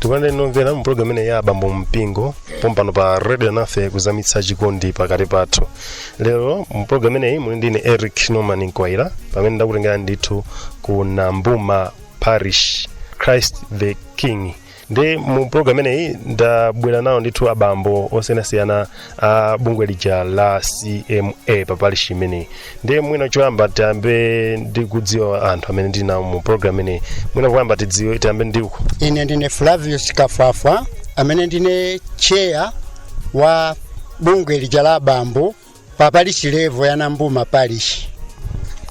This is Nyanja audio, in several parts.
tikupanda tinomvera mu programu imeneyi ya abambo mpingo pompano pa radio alinafe kuzamitsa chikondi pakati pathu lero mu programu imeneyi muli ndine eric norman mkwaira pamene ndakutengerani ndithu ku nambuma parish christ the king ndiye mu program imeneyi ndabwera nawo ndithu abambo osiyanasiyana a bungwe lija la cma pa parish imeneyi ndiye mwina choyamba tiyambe ndi kudziwa anthu amene ndili nawo mu program imeneyi mwina kuyamba tidziwe tiyambe ndi uko ine ndine flavius kafwafwa amene ndine tcheya wa bungwe lija la abambo pa parishi level ya nambuma parishi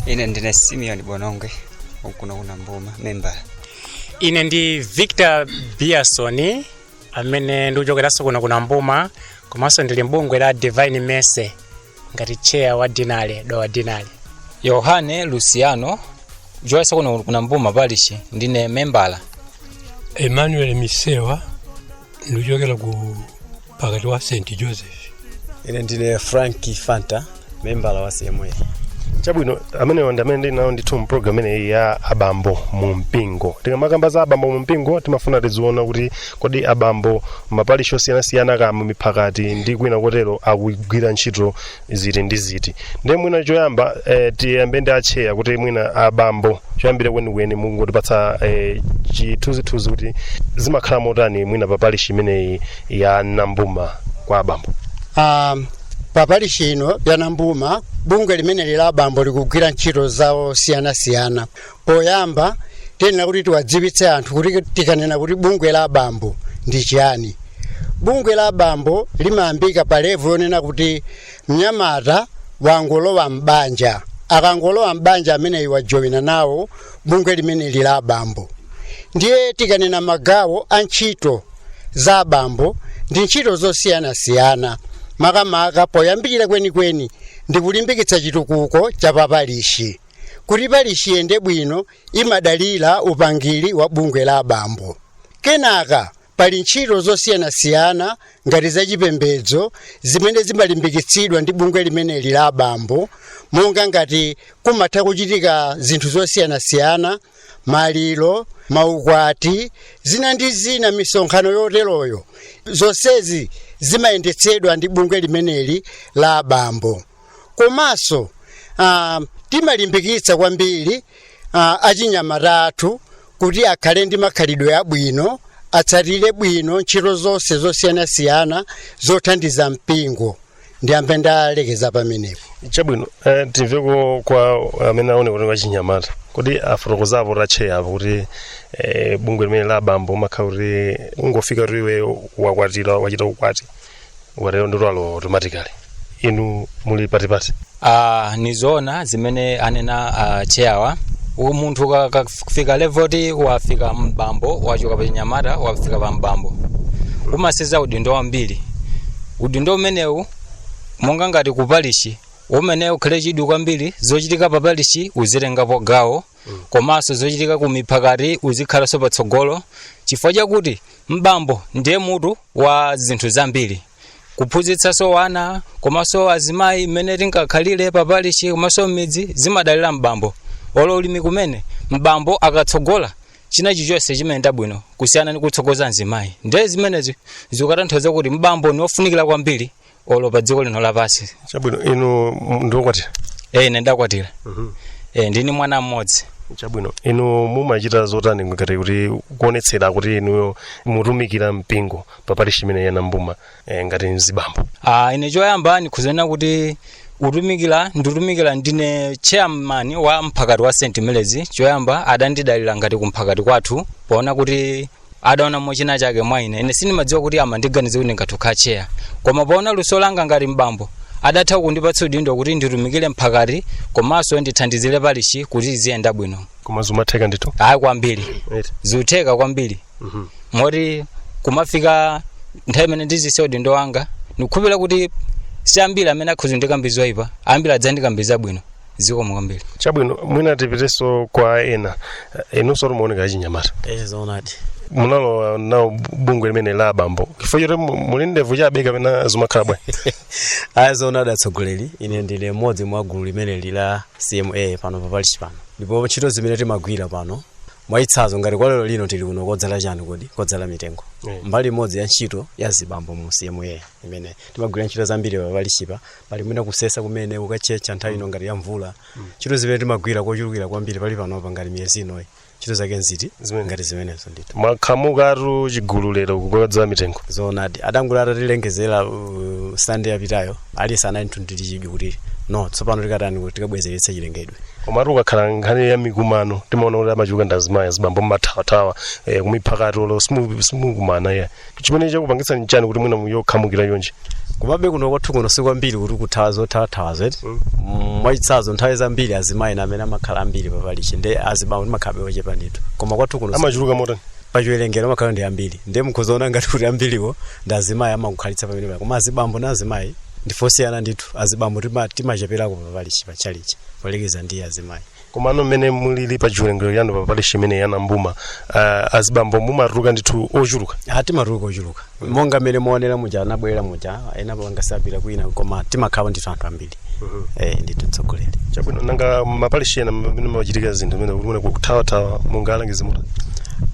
ine ndine simeon bonongwe wa kuno ku nambuma membala ine ndi victor biasoni amene ndikuchokeranso kuno ku nambuma komanso ndili mbungwe la divine mercy ngati chair wa deanery dowa deanery yohane luciano kuchokera kuno ku nambuma parishi ndine membala emmanuel misewa ndikuchokera ku mphakati wa st joseph ine ndine frank fanta membala wa cma chabwino amenewo ndi amene ndili nawo ndithu mu program imeneyi ya abambo mu mpingo tikamakamba za abambo mu mpingo timafuna tiziona kuti kodi abambo m'maparishi osiyanasiyana kaya mu miphakati ndi kwina kotero akugwira ntchito ziti ndi ziti ndiye mwina choyamba eh, tiyambe ndi atcheya kuti mwina abambo choyambirira kwenikweni mungotipatsa eh, chithunzithunzi kuti zimakhala motani mwina pa parishi imeneyi ya nambuma kwa abambo um, pa parishi ino ya nambuma bungwe limeneli la abambo likugwira ntchito zawo zosiyanasiyana Poyamba tiyenera kuti tiwadziwitse anthu kuti tikanena kuti bungwe la abambo ndi chiyani. Bungwe la abambo limayambika pa level yonena kuti mnyamata wangolowa m'banja. Akangolowa m'banja ameneyi wajowina nawo bungwe limeneli la abambo. Ndiye tikanena magawo a ntchito za abambo ndi ntchito zosiyanasiyana makamaka poyambirira kwenikweni ndi kulimbikitsa chitukuko cha paparishi. kuti parishi iyende bwino imadalira upangiri wa bungwe la abambo kenaka pali ntchito zosiyanasiyana ngati zachipembedzo zimene zimalimbikitsidwa ndi bungwe limeneli la abambo monga ngati kumatha kuchitika zinthu zosiyanasiyana maliro maukwati zina ndi zina misonkhano yoteroyo zonsezi zimayendetsedwa ndi bungwe limeneli la abambo komanso ah, timalimbikitsa kwambiri ah, achinyamata athu kuti akhale ndi makhalidwe abwino atsatire bwino ntchito zonse zosiyanasiyana zothandiza mpingo ndiyambe ndalekeza pamenepo chabwino eh, timveko kwa amene aoneka kuti wachinyamata kuti afotokozapo atcheya apo kuti eh, bungwe limene la abambo umakhala kuti ungofika kuti iwe wakwatira wachita ukwati ukatero ndi utalowa automatically inu muli patipati Ah, ni zoona zimene anena a cheyawa U- munthu ka- ka- akafika level ti wafika mbambo wachoka pa chinyamata wafika pa mbambo umasenza udindo wambiri udindo umenewu monga ngati ku parishi umene ukhale chidwi kwambiri zochitika pa parishi uzitengapo gawo komanso zochitika ku miphakati uzikhalanso patsogolo chifukwa chakuti M'bambo ndiye mutu wa zinthu zambiri kuphunzitsanso wana komanso azimayi mmene tingakhalire pa parishi komanso m'midzi zimadalira m'bambo olo ulimi kumene m'bambo akatsogola china chilichonse chimayenda bwino kusiyana ndi kutsogoza mzimayi ndiye zimenezi zikutanthauza kuti m'bambo ni wofunikira kwambiri olo pa dziko lino lapansi chabwino inu m- ndiokwatira e ine ndakwatira e ndili ni mwana mmodzi chabwino inu mumachita zotani ngati kuti kuonetsera kuti inuyo mutumikira mpingo pa parishi imene ya nambuma eh, ngati mzibambo Ah, ine choyamba ndikhoza nena kuti utumikira nditumikira ndine chairman wa mphakati wa st melezi choyamba adandidalira ngati kumphakati kwathu poona kuti adaonamo china chake mwa ine ine sindimadziwa kuti amandiganiza kuti ndingathe ukhala cheya koma poona luso langa ngati mbambo adatha kundipatsa udindo kuti nditumikire mphakati komanso ndithandizire parishi kuti iziyenda bwino koma zumatheka ndithu ayi kwambiri Right. zutheka kwambiri Mhm. moti kumafika nthawi imene ndizisiya udindo wanga ndikukhulupirira kuti si ambiri amene akhoza kundikamba zoipa ambiri adzandikamba zabwino zikomo kwambiri chabwino mwina tipiteso kwa ena Eh, inunso mukuoneka achinyamata e zoonadi munalowa nawo bungwe limene la abambo chifukwa choti mu- muli ndevu chabe kapena zimakhala bwa a zoonadi atsogoleri ine ndine mmodzi mwa gulu limene lili la cma pano papalishi pano ndipo ntchito zimene timagwira pano mwachitsanzo ngati kwa lero lino tili kuno kodzala chani kodi kodzala mitengo Mm. mbali imodzi ya ntchito ya zibambo mu cma imene timagwira ntchito zambiri papalishipa pali mwina kusesa kumene kukatchetcha nthawi ino ngati ya mvula ntchito zimene timagwira kochulukira kwambiri pali panopa ngati miyezi inoyi ntchito zake nziti Zimene. ngati zimenezo ndithu mwakhamukatu chigulu lero kukodzala mitengo zoonadi adangoti atatilengezera uh, sande yapitayo aliyense anali ndithu ndi chidwi kuti no tsopano tikatani kuti tikabwezeretse chilengedwe komatu ukakhala nkhani ya mikumano timaona kuti amachuluka ndazimayi azibambo mmathawathawa eh, kumiphakati olo simu- simukumana iya chimene chakupangitsani nchani kuti mwina muzikhamukira chonchi kumabe kuno kwathu kuno si kwambiri kuti kuthawa zothathawa zedi Mm, mwachitsanzo nthawi zambiri azimayi amene amakhala ambiri paparishi ndi azibambo timakhala ochepa ndithu koma kwathu kuno si- amachuluka motani pachiwerengero amakhala ndi ambiri ndiye mukhoza kuona ngati kuti ambiriwo ndi azimayi amakukhalitsa pamenepa koma azibambo ndi azimayi ndife osiyana ndithu azibambo tima- timacheperako paparishi patchalitchi poyerekeza ndi azimayi komano mmene mulili pa chiwerengero chanu pa parishi imeneyi ya Nambuma uh, azibambo mumatuluka ndithu ochuluka Ah, timatuluka ochuluka monga mmene muonera muja anabwera muja ena pangasapita kwina koma timakhala ndithu anthu ambiri eh ndithu mtsogoleri chabwino nanga maparishi ena mmene zimachitikira zinthu zimenezi zomathawathawa mungawalangize motani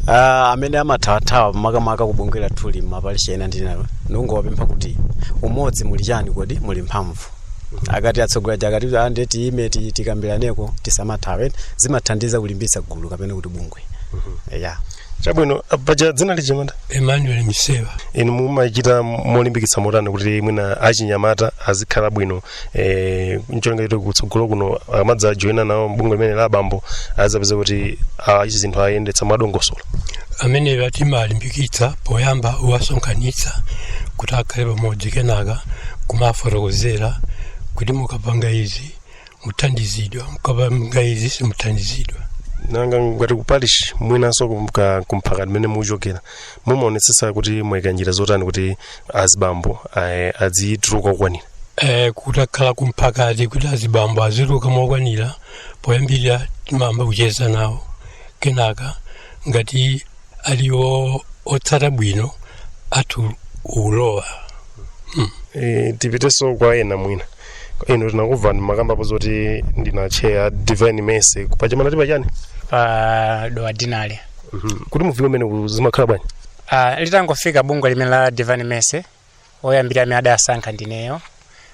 Ah, amene amathawathawa makamaka kubungwe lathuli maparishi ena ndinayo ndikungowapempha kuti mu umodzi muli chani kodi muli mphamvu akati atsogoleri akati ah, ndiye tiyime ti- tikambiraneko tisamathawe zimathandiza kulimbitsa gulu kapena kuti bungwe ya chabwino paja dzina lija mwati Emmanuel Misewa inu mumachita molimbikitsa motani kuti mwina achinyamata azikhala bwino eh, ncholinga choti kutsogolo kuno akamadza joyina nawo bungwe limeneli la abambo azapeza kuti ah, ichi zinthu ayendetsa mwadongosolo ameneyo timalimbikitsa poyamba kuwasonkhanitsa kuti akhale pamodzi kenaka kuwafotokozera kuti mukapanga izi muthandizidwa mukapanga izi simuthandizidwa nanga ngati ku parish mwinanso kumka- kumphakati umene mukuchokera mumaonetsetsa kuti mwayika njira zotani kuti azibambo aye- adzituluka okwanira Eh, kutakhala kumphakati kuti azibambo azituluka mokwanira poyambirira timayamba kucheza nawo kenaka ngati ali o- otsata bwino atha kulowa e, tipitenso kwa ena mwina inu tinakumvani mumakambapo zoti ndinu a chair a divine mercy pa chimanati pa chani pa Dowa deanery kuti mufike umenewu zimakhala bwanji uh, litangofika bungwe limeneli la divine mercy oyambirira amene adasankha ndineyo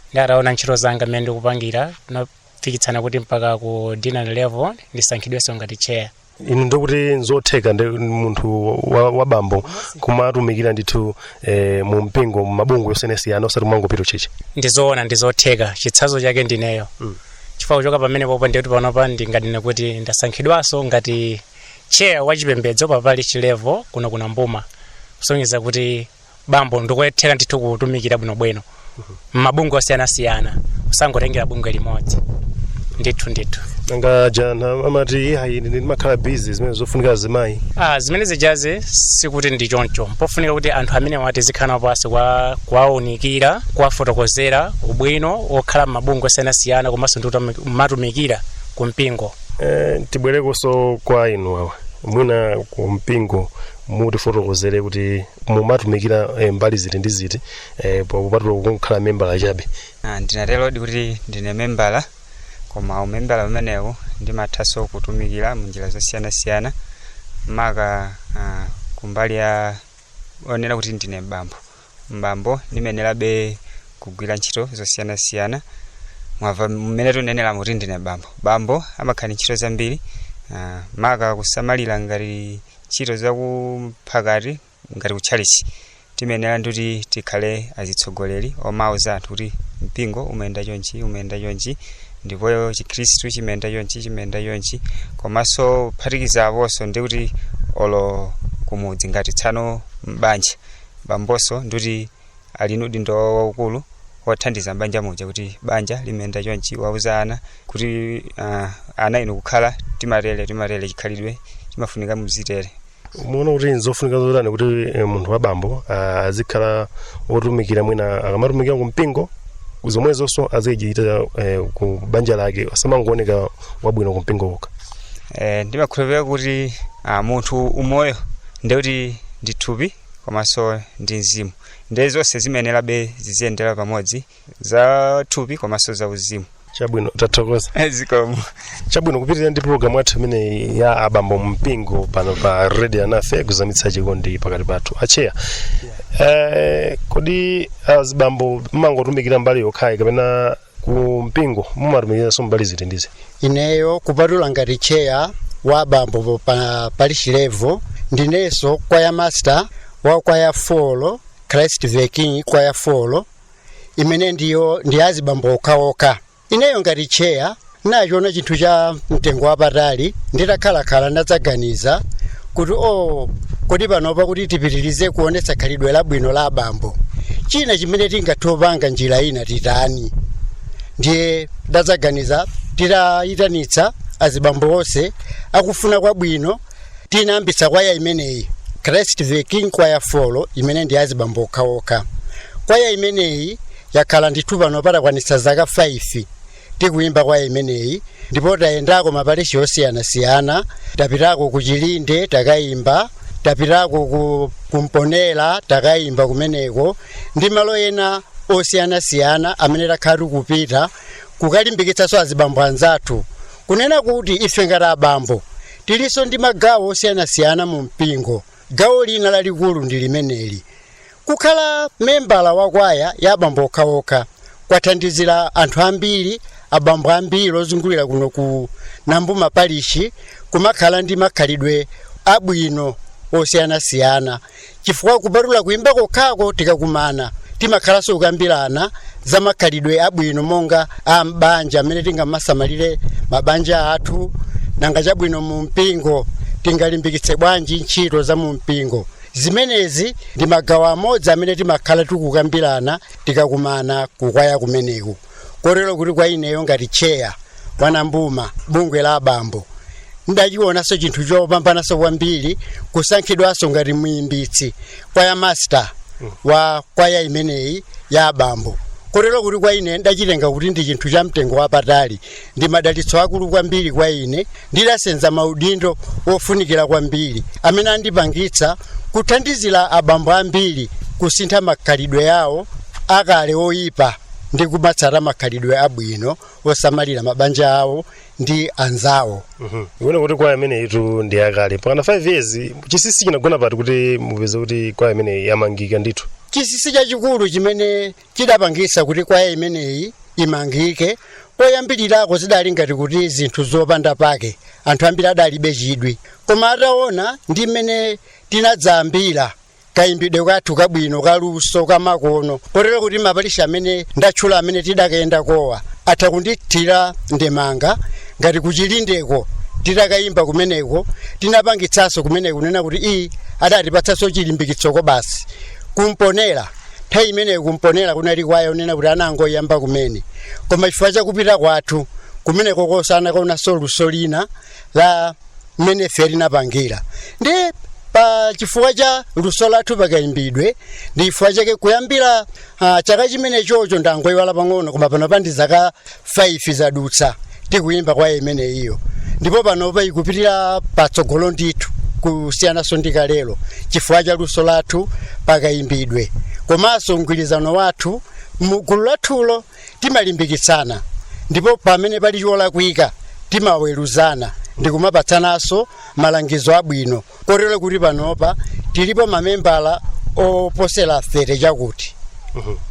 ndiye ataona ntchito zanga mmene ndikupangira tinafikitsana kuti mpaka ku deanery level ndisankhidwenso ngati chair ndiye kuti nzotheka ndi munthu wa, wa bambo kumatumikira ndithu eh, mu mpingo mu mabungwe osiyanasiyana osati kumangopita ku tchalitchi ndizoona ndizotheka chitsanzo chake ndineyo Mm. chifukwa kuchoka pamenepopo ndikuti panopa ndinganene kuti ndasankhidwanso ngati chair wa chipembedzo pa parish level kuno ku Nambuma kusonyeza kuti bambo nkutheka ndithu kutumikira bwinobwino mmabungwe osiyanasiyana osangotengera bungwe limodzi ndithu ndithu nanga aja ena amati ayi ine ndimakhala busy zimenezo zofunika azimayi ah, zimene zijazi sikuti ndi choncho mpofunika kuti anthu amenewa tizikhala nawo pansi kwa kuwaunikira kuwafotokozera ubwino wokhala mmabungwe osiyanasiyana komanso ndi utami- kumatumikira ku mpingo Eh, tibwerekonso kwa inu awa mwina ku mpingo mutifotokozere kuti mumatumikira eh, mbali ziti ndi ziti eh, popatula kukhala membala chabe Ah, ndingaterodi kuti ndine membala koma umembala umenewu ndimathanso kutumikira mu njira zosiyanasiyana maka ah, kumbali ya yonena kuti ndine bambo mbambo ndimayenerabe kugwira ntchito zosiyanasiyana mwamva mmene tikunenera kuti ndine bambo bambo amakhala ndi ntchito zambiri ah, maka kusamalira ngati ntchito za kumphakati ngati kutchalichi timayenera ndikuti tikhale atsogoleri omauza anthu kuti mpingo umayenda chonchi umayenda chonchi ndipo chikhristu chimayenda chonchi chimayenda chonchi komanso kuphatikiza aponso ndikuti olo kumudzi ngati tsono m'banja bambonso ndiuti ali ndi udindo wawo waukulu wothandiza m'banja muja kuti banja limayenda chonchi kuwauza ana kuti ah, ana inu kukhala timatere timatere chikhalidwe chimafunika muzitere muona kuti nzofunika zotani kuti eh, munthu wa bambo ah, azikhala wotumikira mwina akamatumikira ku mpingo zomwezonso azichita eh, ku banja lake asamangooneka wabwino ku mpingo kokha Eh, ndimakhulupirira kuti ah, munthu umoyo ndiye kuti ndi thupi komanso ndi mzimu ndiye zonse zimayenerabe ziziyendera pamodzi za thupi komanso za uzimu chabwino tathokoza zikomo chabwino tikupitirira ndi pulogalamu yathu imeneyi ya abambo mumpingo pano pa radio Alinafe kuzamitsa chikondi pakati pathu acheya eh, kodi azibambo mumangotumikira mbali yokhayi kapena ku mpingo mumatumikiranso mbali ziti ndi ziti ineyo kupatula ngati cheya wa abambo pa parish level ndinenso kwaya master wa kwaya 4 christ the king kwaya 4 imene ndiyo ndi ya azibambo okhaokha ineyo ngati cheya ndachiona chinthu cha mtengo wapatali nditakhalakhala ndadzaganiza kuti o oh, kodi panopa kuti tipitirize kuonetsa khalidwe labwino la abambo china chimene tingathe kupanga njira ina titani ndiye ndadzaganiza titayitanitsa azibambo onse akufuna kwabwino tinayambitsa kwaya imeneyi christ the king kwaya 4 imene ndi azibambo okhaokha kwaya imeneyi yakhala ndithu panopa takwanitsa zaka 5 tikuyimba kwaya imeneyi ndipo tayendako maparishi osiyanasiyana tapitako ku chilinde takayimba tapitako ku Mponela takayimba kumeneko ndi malo ena osiyanasiyana amene takhala tikupita kukalimbikitsanso azibambo anzathu kunena kuti ife ngati abambo tilinso ndi magawo osiyanasiyana mu mpingo gawo lina lalikulu ndi limeneli Kukhala membala wa kwaya ya abambo okhaokha kwathandizira anthu ambiri, abambo ambiri ozungulira kuno ku Nambuma Parishi kumakhala ndi makhalidwe abwino osiyanasiyana chifukwa kupatula kuimba kokhako tikakumana timakhalanso kukambirana za makhalidwe abwino monga a m'banja mmene tingamasamalire mabanja athu, nanga chabwino mu mpingo tingalimbikitse bwanji ntchito za mu mpingo. zimenezi ndi magawo amodzi amene timakhala tikukambirana tikakumana kukwaya kumeneku kotero kuti kwa ineyo ngati tcheya wa Nambuma bungwe la abambo ndachionanso chinthu chopambananso kwambiri kusankhidwanso ngati muyimbitsi kwaya master wa kwaya imeneyi ya abambo kotero kuti kwa ineyo ndachitenga kuti ndi chinthu cha mtengo wapatali ndi madalitso aakulu kwambiri kwa ine ndidasenza maudindo ofunikira kwambiri amene andipangitsa kuthandizira abambo ambiri kusintha makhalidwe awo akale oyipa ndi kumatsata makhalidwe abwino osamalira mabanja awo ndi anzawo Ndione kuti kwaya imeneyitu ndi yakale. Pakana 5 years chinsinsi chinagona pati kuti mupeze kuti kwaya imeneyi yamangika ndithu. chinsinsi chachikulu chimene chidapangitsa kuti kwaya imeneyi imangike koyambirirako zidali ngati kuti zinthu zopanda pake anthu ambiri adalibe chidwi koma ataona ndi mmene tinadzayambira kayimbidwe kathu kabwino kaluso kamakono kotero kuti maparishi amene ndatchula amene tidakayendakowa atha kundithira ndemanga ngati ku Chilindeko titakayimba kumeneko tinapangitsanso kumeneko kunena kuti iyi adatipatsanso chilimbikitsoko basi ku Mponela nthawi imeneyo ku Mponela kunali kwaya kunena kuti anangoyamba kumene koma chifukwa chakupita kwathu kumeneko kokosa anakaonanso luso lina la mmene ife tinapangira ndi pa chifukwa cha luso lathu pakayimbidwe ndi chifukwa chake kuyambira ah, chaka chimenechocho ndangoyiwala pang'ono koma panopa ndi zaka 5 zadutsa tikuyimba kwaya imeneyiyo ndipo panopa ikupitira patsogolo ndithu kusiyananso ndi kalelo chifukwa cha luso lathu pakayimbidwe komanso mgwirizano wathu mu gulu lathulo timalimbikitsana ndipo pamene pali cholakwika timaweruzana ndikumapatsananso malangizo abwino kotero kuti panopa tilipo mamembala oposera 30 chakuti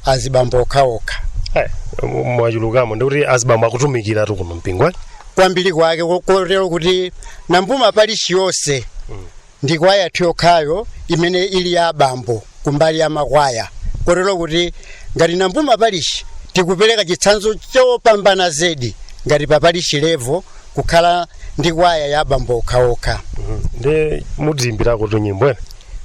azibambo okhaokha Eh, m- mwachulukamu ndikuti azibambo akutumikiratu kuno mpingo eh? kwambiri kwake ko- kotero kuti Nambuma parishi yonse ndi kwaya yokhayo imene ili ya abambo kumbali ya makwaya kotero kuti ngati Nambuma parishi tikupereka chitsanzo chopambana zedi ngati pa parishi levo kukhala ndi kwaya ya abambo okhaokha ndi mutiyimbirakotu nyimbo ena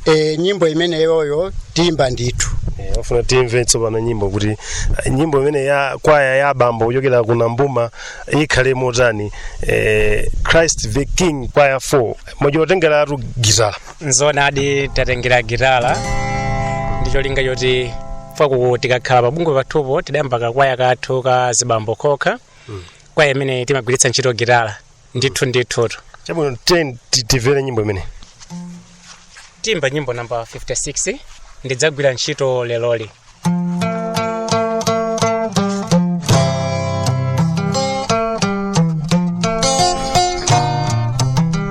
e, nyimbo imeneyoyo tiyimba ndithu Eh, tafuna timve tsopano nyimbo kuti eh, nyimbo imeneyi ya kwaya ya abambo kuchokera ku nambuma ikhale motani eh, christ the king kwaya 4 mwachotengeratu gitala nzoonadi tatengera gitala ndi cholinga choti pajatu tikakhala pa bungwe pathupo tidayamba kakwaya kathu ka zibambo kokha kwaya imene timagwiritsa ntchito gitala ndithu ndithu chabwino ten ti- timvere nyimbo imene tiyimba nyimbo namba 56 ndidzagwira ntchito leroli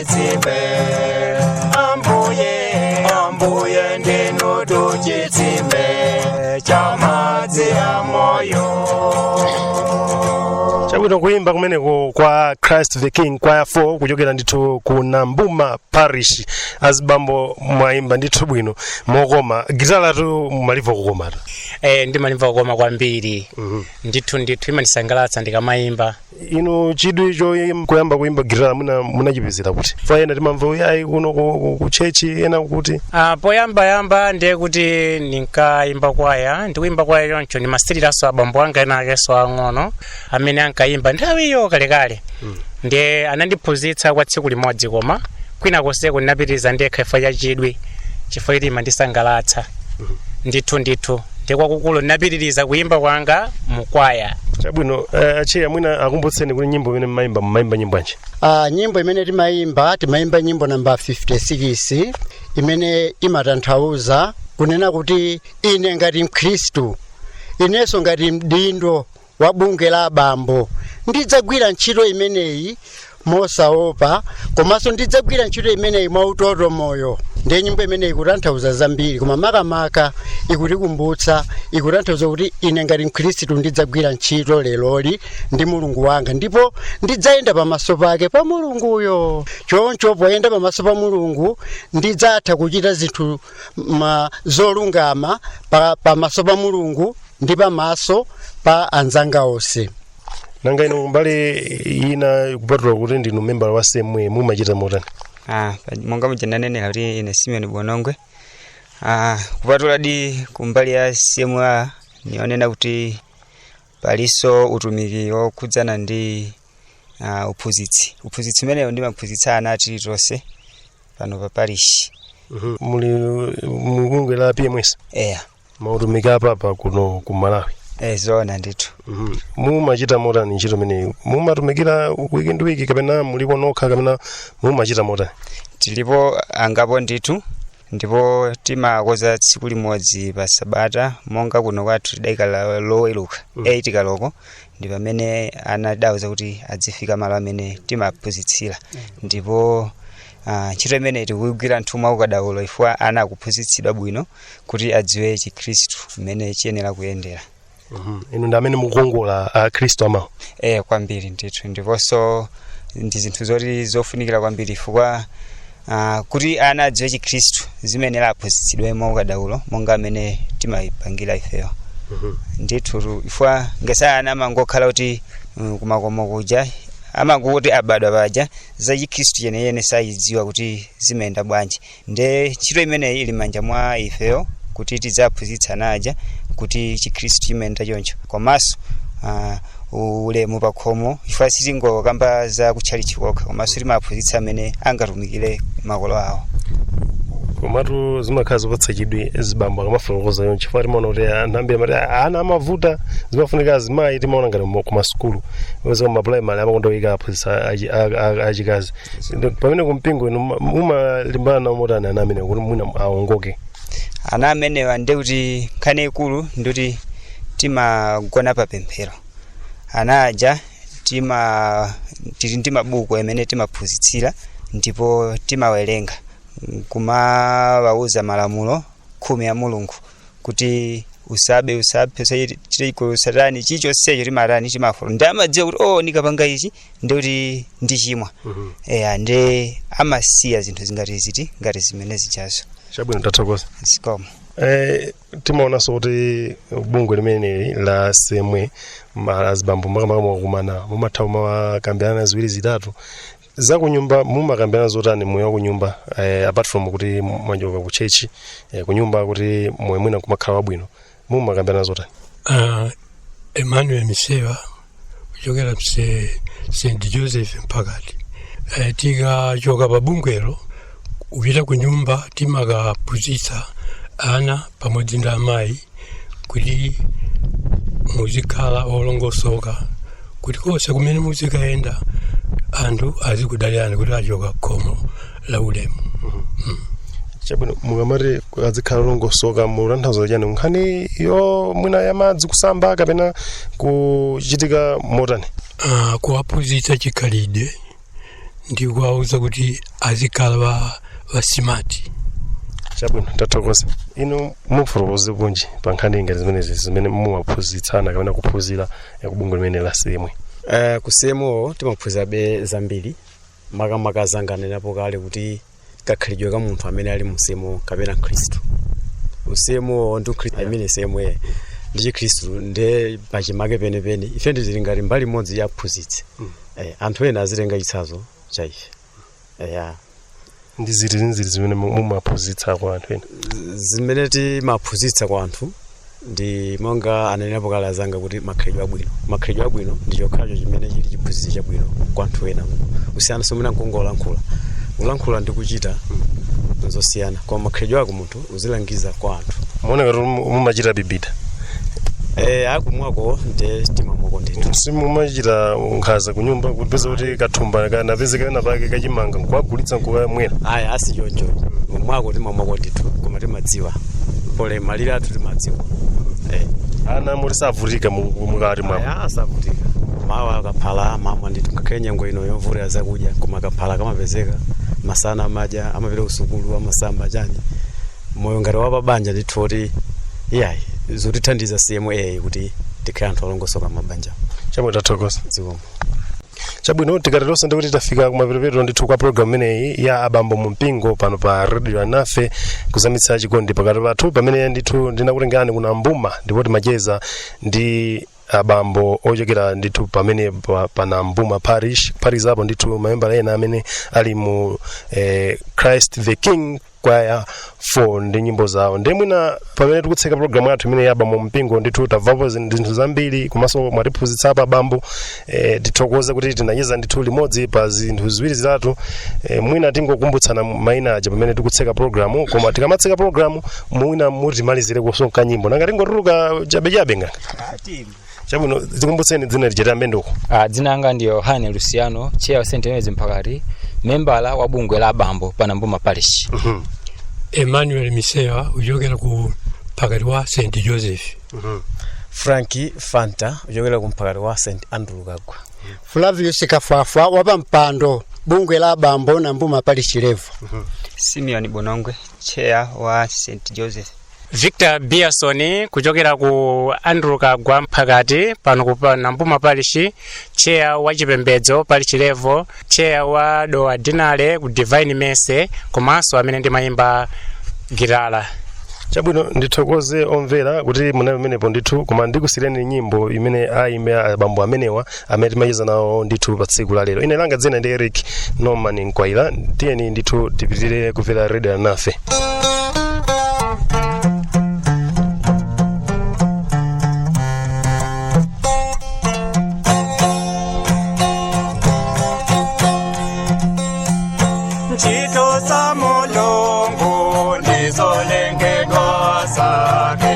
chitsime ambuye ambuye ndinutu chitsime cha madzi a moyo chabwino kuimba kumeneko kwa christ the king kwaya 4 kuchokera ndithu ku nambuma parish azibambo mwaimba ndithu bwino mokoma gitalatu mmalimva kukoma eh, ndimalimva kukoma kwambiri ndithu ndithu imandisangalatsa ndikamayimba inu chidwi choyim- kuyamba kuyimba gitala muna munachipezera kuti paja ena timamva kuti ayi kuno ku- ku- ku chechi ena kuti Ah, poyambayamba ndiye kuti ndinkayimba kwaya ndikuyimba kwaya choncho ndimasiliranso abambo anga ena akenso ang'ono amene ankayimba nthawiyo kalekale ndiye anandiphunzitsa kwa tsiku limodzi koma kwina konseko ndinapitiriza ndekha chifukwa cha chidwi chifukwa choti imandisangalatsa ndithu ndithu ndiye kwakukulu ndinapitiriza kuyimba kwanga mu kwaya chabwino eh, atcheya mwina akumbutseni kuti nyimbo imene mmayimba mmayimba nyimbo yanji Ah, nyimbo imene timayimba timayimba nyimbo namba 56 imene imatanthauza kunena kuti ine ngati mkhristu inenso ngati mdindo wa bungwe la abambo ndidzagwira ntchito imeneyi mosaopa komanso ndidzagwira ntchito imeneyi mwautotomoyo ndiye nyimbo imeneyi ikutanthauza zambiri koma makamaka ikutikumbutsa ikutanthauza kuti ine ngati mkhristu ndidzagwira ntchito leroli ndi mulungu wanga ndipo ndidzayenda pamaso pake pa mulunguyo choncho poyenda pamaso pa mulungu ndidzatha kuchita zinthu ma zolungama pa- pamaso pa mulungu ndi pamaso pa anzanga onse nanga inu kumbali ina kupatula kuti ndinu membala wa cma mumachita motani Ah, pa- monga muja ndanenera kuti ine simeoni bonongwe ah, kupatuladi kumbali ya cma ndiyonena kuti palinso utumiki wokhudzana ndi uh, uphunzitsi uphunzitsi umenewo ndimaphunzitsa ana a tilitonse pano pa parish muli mubungwe la pms eya mautumiki a papa kuno ku malawi eh, zoona ndithu mumachita motani ntchito imeneyi mumatumikira wiki ndi wiki kapena mulipo nokha kapena mumachita motani tilipo angapo ndithu ndipo timakonza tsiku limodzi pa sabata monga kuno kwathu tidaika la- loweruka Mm. 8 kaloko ndi pamene ana tidawauza kuti adzifika malo amene timaphunzitsira ndipo ah, ntchito imeneyi tikugwira ndithu mwa ukadaulo chifukwa ana akuphunzitsidwa bwino kuti adziwe chikhristu mmene chiyenera kuyendera Mhm. inu ndi amene mukukonza akhristu amawa eh kwambiri ndithu ndiponso ndi zinthu zoti zofunikira kwambiri chifukwa ah, kuti ana adziwe chikhristu zimayenera aphunzitsidwe mwa ukadaulo monga mmene timayipangira ifeyo ndithu tu- chifukwa masana ana amangokhala kuti mm, kumakomo kuja amangokuti abadwa paja za chikhristu chenicheni sachidziwa kuti zimayenda bwanji nde ntchito imeneyi ili m'manja mwa ifeyo kuti tidziphunzitsa ana aja kuti chikhristu chimayenda choncho komanso ah, ulemu pakhomo chifukwa sitingokamba za kutchalitchi kokha komanso timaphunzitsa mmene angatumikire makolo awo komatu zimakhala zopatsa chidwi zibambo akamafotokoza choncho chifukwa timaona kuti anthu ambiri amati "Ah, ana amavuta zimafunika azimayi timaona ngati mu- kumasukulu pezeka mapulaimali amakonda kuyika aphunzitsa achi- a- a- achikazi Ndo- pamene kumpingo inu muma- mumalimbana nawo motani ana amenewa kuti mwina aongoke ana amenewa ndi kuti nkhani yaikulu ndikuti timagona pa pemphero ana aja tima tili ndi mabuku amene timaphunzitsira ndipo timawerenga kumawauza malamulo khumi a mulungu kuti usabe usaphe usachite chigololo usatani chilichonsecho timatani timafuna nde amadziwa kuti o nikapanga ichi ndikuti ndichimwa eya nde amasiya zinthu zingati ziti ngati zimene zijazo chabwino tathokoza zikomo Eh, timaonanso kuti bungwe limeneli la cmo ma- azibambo makamaka mukakumana mumatha kumakambirana ziwiri zitatu zakunyumba mumakambirana zotani moyo wakunyumba eh, apart from kuti mwachoka ku chechi eh, kunyumba kuti moyo mwina kumakhala wabwino mumakambirana zotani Ah, emmanuel misewa kuchokera ku st joseph mphakati Eh, tikachoka pa bungwelo kupita ku nyumba timakaphunzitsa ana pamodzi ndi amayi kuti muzikhala olongosoka kuti konse kumene muzikayenda anthu azikudalirani kuti achoka khomo la ulemu chabwino mukamati azikhala olongosoka mutanthauza chani nkhaniyo mwina ya madzi kusamba kapena kuchitika motani Ah, kuwaphunzitsa chikhalidwe ndi kuwauza kuti azikhala wa- wasimati chabwino tathokoza inu mufotokozekonji pa nkhani ngati zimenezi zimene mumaphunzitsana kapena kuphunzira ya kubungwe limene la CMO Eh, ku CMO timaphunzirabe zambiri makamaka azanga anenapo kale kuti kakhalidwe ka munthu amene ali mu CMO kapena mkhristu CMO ndi ukhristu I mean CMO ndi chikhristu nde pachimake penepene ife nde tili ngati mbali imodzi ya aphunzitsi eh, anthu ena azitenga chitsanzo cha ife eh, ya ndi ziti ndi ziti zimene mu- mumaphunzitsa kwa anthu ena zimene timaphunzitsa kwa anthu ndi monga ananenapo kale azanga kuti makhalidwe abwino makhalidwe abwino ndi chokhacho chimene chili chiphunzitso chabwino kwa anthu ena kusiyana somwe nankungolankhula kulankhula ndi kuchita nzosiyana koma makhalidwe ako munthu uzilangiza kwa anthu mukuoneka kuti mu- mumachita bibida e, kumwako nde timamwako ndithu simumachita nkhanza kunyumba kupeza kuti kathumba kanapezeka penapake kachimanga nkukagulitsa nkukamwera ayi si choncho kumwako timamwako ndithu koma timadziwa pole malire athu timadziwa e. ana muli savutika mu- mu- mukati mwao ayi savutika mmawa kaphala amamwa ndithu ngakhale nyengo ino yovutira zakudya koma kaphala kamapezeka masana amadya ya amapita kusukulu amasamba chani moyo ngati wapa banja ndithu kuti iyayi zotithandiza CMO kuti tikhale anthu olongosoka mmabanja chabwino tathokoza zikomo chabwino tikatero ndikuti tafika kumapeto ndithu kwa programu imeneyi ya abambo mu mpingo pano pa radio alinafe kuzamitsa chikondi pakati pathu pamene ndithu ndinakutengerani ku nambuma ndipo timacheza ndi abambo ochokera ndithu pamene pa- pa nambuma parish phatikizapo ndithu mamembala ena amene ali mu eh, christ the king kwaya 4 ndi nyimbo zawo ndi mwina pamene tikutseka programu yathu imeneyi ya abambo mu mpingo ndithu tamvapo zin- zinthu zambiri komanso mwatiphunzitsa apa bambo eh, tithokoze kuti tinacheza ndithu limodzi pa zinthu ziwiri zitatu eh, mwina tingokumbutsana maina aja pamene tikutseka programu koma tikamatseka programu mwina mutimalizirekonso kanyimbo nanga tingotuluka chabechabe ngati chabwino tikumbutseni dzina lijeta mendoko Ah, dzina langa ndi yohane luciano cheya wa st denis mphakati membala wa bungwe la abambo pa nambuma parish emmanuel misewa kuchokera ku mphakati wa st joseph franki fanta kuchokera ku mphakati wa st andrew kaggwa flavius kafwafwa wa pampando bungwe la abambo nambuma parish level simeon bonongwe cheya wa st joseph victor biason kuchokera ku andrew kagwa mphakati pano pa nambuma parishi cheya wa chipembedzo parishi level cheya wa dowa deanery ku divine mercy komanso amene ndimayimba gitala chabwino ndithokoze omvera kuti munali pamenepo ndithu koma ndikusiyireni nyimbo imene ayimba abambo amenewa amene timacheza nawo ndithu pa tsiku la lero ine langa dzina ndi eric norman mkwaila tiyeni ndithu tipitire kumvera redio alinafe ntchito za mulungu ndizolengedwa zake